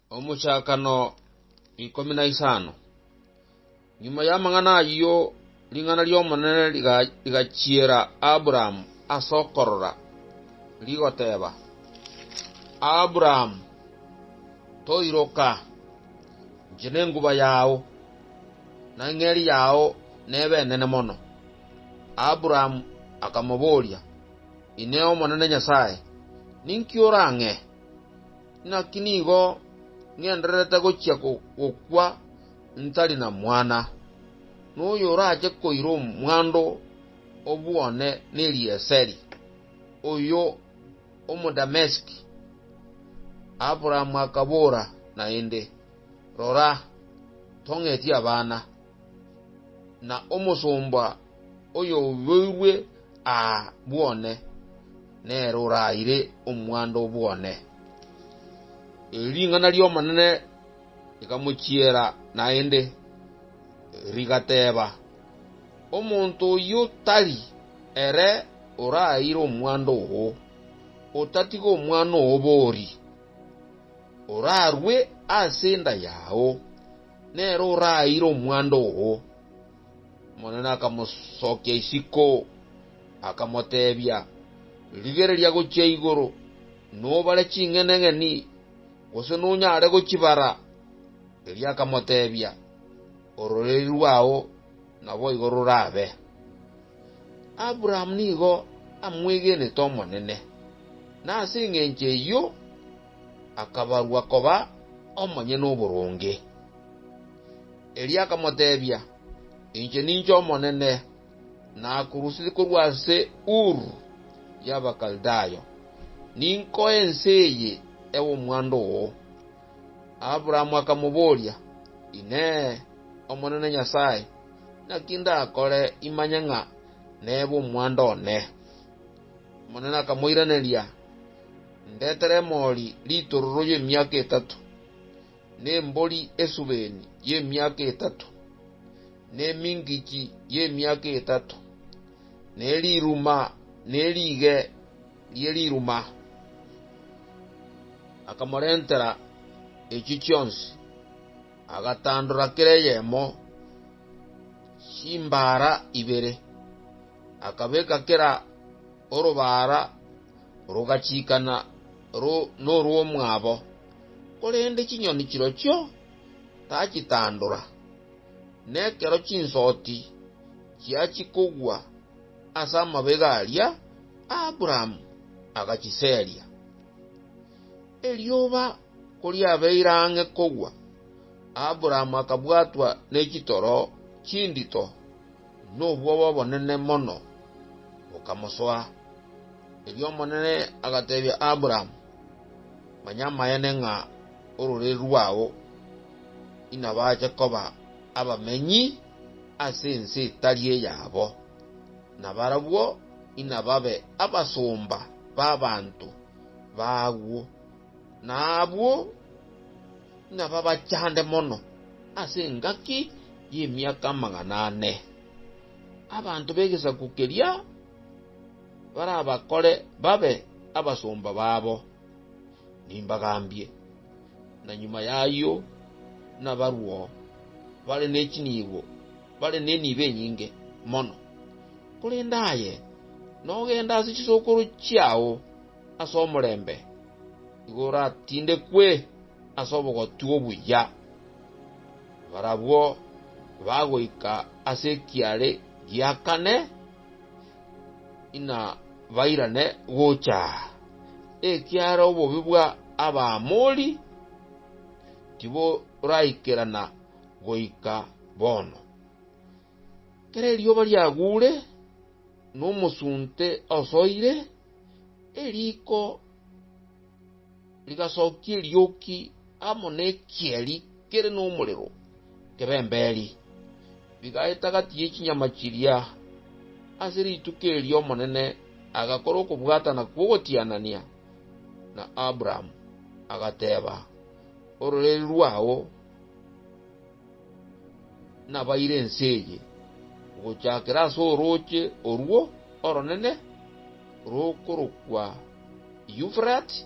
Omochakano ikomi na isano. Nyuma y'amang'ana ayio ring'ana ri'Omonene riga- rigachiera Abrahamu ase okorora, rigoteba, Abrahamu, toiroka, inche nenguba yao, na eng'eri yao nebe enene mono. Abrahamu akamoboria, Inee Omonene Nyasae, ninki orang'e? Naki nigo ng'endererete gochia gokwa ntari na mwana, na oyorache koira omwando o bwone n'Elieseri, oyo Omodamesiki. Abrahamu akabora naende, Rora, tong'etie abana, na omosomba oyorueirwe aa bwone, nere oraire omwando o bwone. Eri ring'ana ri'Omonene rikamochiera naende, rigateba, Omonto oyio tari ere oraire omwando oo, otatiga omwana oo bori, orarue ase enda yao, nere oraire omwando oo. Omonene akamosokia isiko, akamoteebia, Rigereria gochia igoro, nobare ching'eneng'eni, gose nonyare gochibara. Erio akamoteebia, Ororeri rwao naboigo rorabe. Abrahamu nigo amwegenete Omonene, na ase engencho eyio akabarwa koba omonyene oboronge. Erio akamoteebia, Inche ninche Omonene, nakorusetie korwa ase Uru y'Abakaldayo, ninkoe ense eye ewe omwando oo. Abrahamu akamoboria, Inee! Omonene Nyasae, naki ndakore imanye ng'a nebe omwando one? Omonene akamoiraneria, Ndetere emori ritororo y'emiaka etato. nembori esubeni y'emiaka etato, na emingichi y'emiaka etato, na eriruma ne riige rie riruma. Akamorentera echi chionsi, agatandora kera eyemo chimbaara ibere, akabeka kera orobaara rogachikana norw'omwabo. korende chinyoni chirochio tachitandora, na ekero chinsoti chiachia kogwa ase amabega aria, Abraham agachiseria. Erioba koriabeire ang'e kogwa, Abraham akabwatwa ne chitoro chindito, na obwoba obonene mono bokamosoa. Erio Omonene agateebia Abraham, Manya amaene ng'a ororeri rwao inabache koba abamenyi ase ense etari eyabo, na barabwo inababe abasomba b'abanto baagwo, na abwo inababachande mono ase engaki y'emiaka amagana ane. Abanto b'egesaku keria barabakore babe abasomba babo, nimbagambie, na nyuma y'ayio nabarwo bare ne chinibo, bare nenibo enyinge mono. Korende aye nogende ase chisokoro chiao ase omorembe, nigo oratindekwe ase obogoti obuya. Barabwo bagoika ase ekiare gia kane. inabairane gocha aa, ekiagera obobe bwa Abaamori tiboraikerana goika bono. Ekero erioba riaguure, na omosunte osoire, eriko. Rigasokia erioki amo nekieri kere nomorero kebemberi, bigaeta gati ye chinyama chiria. Ase rituko erio Omonene agakora okobwatana kw'ogotianania na Abrahamu, agateba, Ororeri rwao. Nabaire ense eye, ogochakera ase orooche orwo oronene rokorokwa Eufurati,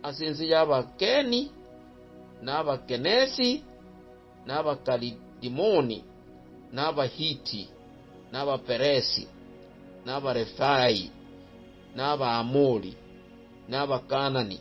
ase ense y'Abakeni, na Abakenesi, na Abakaridimoni, na Abahiti, na Abaperesi, na Abarefai, na Abaamori, na Abakaanani.